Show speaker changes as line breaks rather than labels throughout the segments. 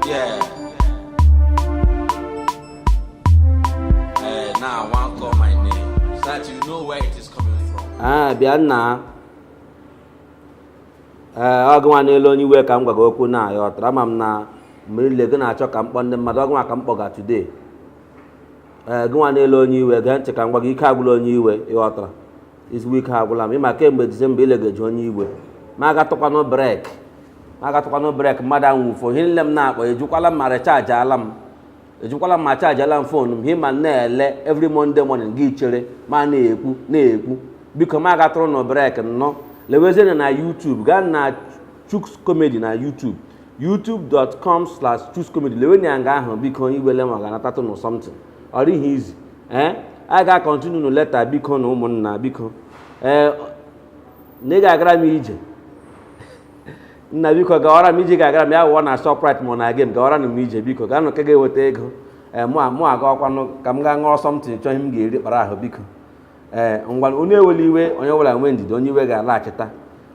Yeah. Hey, now I want to call my name so that you know where it is
coming from. Ah, bịa nna. Ee, eh, ọ gịnwa na-ele onye iwe ka m gwa gị okwu nna ịghọtara ama m na mgbe niile gị na-achọ ka m kpọọ ndị mmadụ ọ gịnwa ka m kpọga today. Ee, eh, gịnwa na-ele onye iwe gee ntị ka m gwa gị ike agwụla onye iwe ịghọtara ezigbo ike agwụla m ịma kemgbe disemba ilegeji onye iwe m agatụkwanụ brek m agatụkwanụ brek mmadụ anwụfo ihe nile m na-akpọ ajụkwala m ma rechajiala m ajụkwala m ma chajiala m fon m ịma na-ele every monday morning gị echere m ana-ekwu na-ekwu biko m agatụrụnụ brek nnọọ lewezienụ na youtube gaa na chuks comedy na youtube youtube.com slash chukscomedy lewenụ ya nga ahụ biko onye iwele m ga-anatatụnụ something ọ dịghị izi ee eh? a ga-akọntinu nụ leta bikonụ ụmụnna biko ee eh, na ị ga-agara m ije nna biko gawara m ije ga-agara m ya wụọ na Shoprite ma ọ na Game gawara m ije biko gaanụ ka ga-eweta ego ee eh, mụ agakwanụ ka m gaa ṅụọ something chọọ ihe m ga-eri kpara ahụ biko ee ngwa onye ewele iwe onye ọbụla nwee ndidi onye iwe ga-alaghachita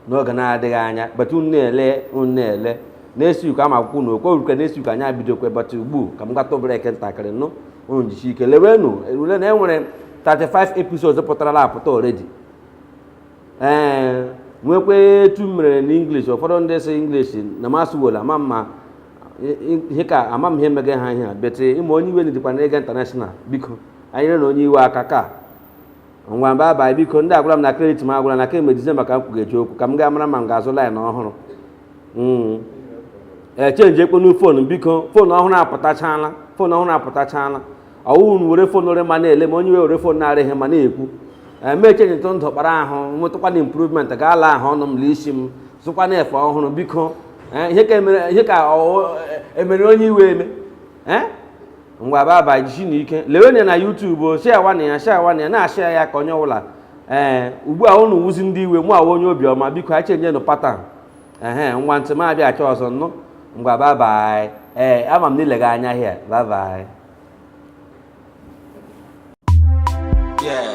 n'oge na-adịghị anya but unu na-ele unu na-ele na-esi uko ama akwụkwọ na okwe urukwe na-esi uko anyị ebidokwa but ugbu ka m gatụ brek ntakịrị nụ unu jisie ike lewenụ erule na enwere 35 episodes pụtarala apụta already ee nwekwa etu m mere na English ụfọdụ ndị sị English na m asụwala ma mma ihe ka ama m ihe mega ha ihe a but ịma onye iwe dịkwa na-aga intanashonal biko nyerenụ onye iwe aka ka ngwa babaị biko ndị agwara m na kredit m agwụla na kemgbe dizemba ka m kwugeji okwu ka m gaa mara ma m ga-azụ laịn ọhụrụ hmm. chenjiekpọnụ fon biko fon ọhụrụ apụtachala fon ọhụrụ apụtachala ọ wụ unu were fon rị mma na-ele ma onye iwe were fon na-arịghị mma na-ekwu m echenjitụ ndụ kpara ahụ nwetụkwanụ improvement ga ala ahụ ọnụ m na isi m zụkwanụ efe ọhụrụ biko ihe ka emere onye iwe eme ngwa babaị jisienụ ike lewenụ ya na YouTube o sharewanụ ya sharewanụ ya na-ashia ya ka onye ọbụla ee ugbu a unu wuzi ndị iwe mụ awụ onye obiọma biko anyị chenjienụ patan ehe ngwa until m abịa achọ ọzọ nụ ngwa babaị ee ama m na ilega anya hịa babaị Yeah.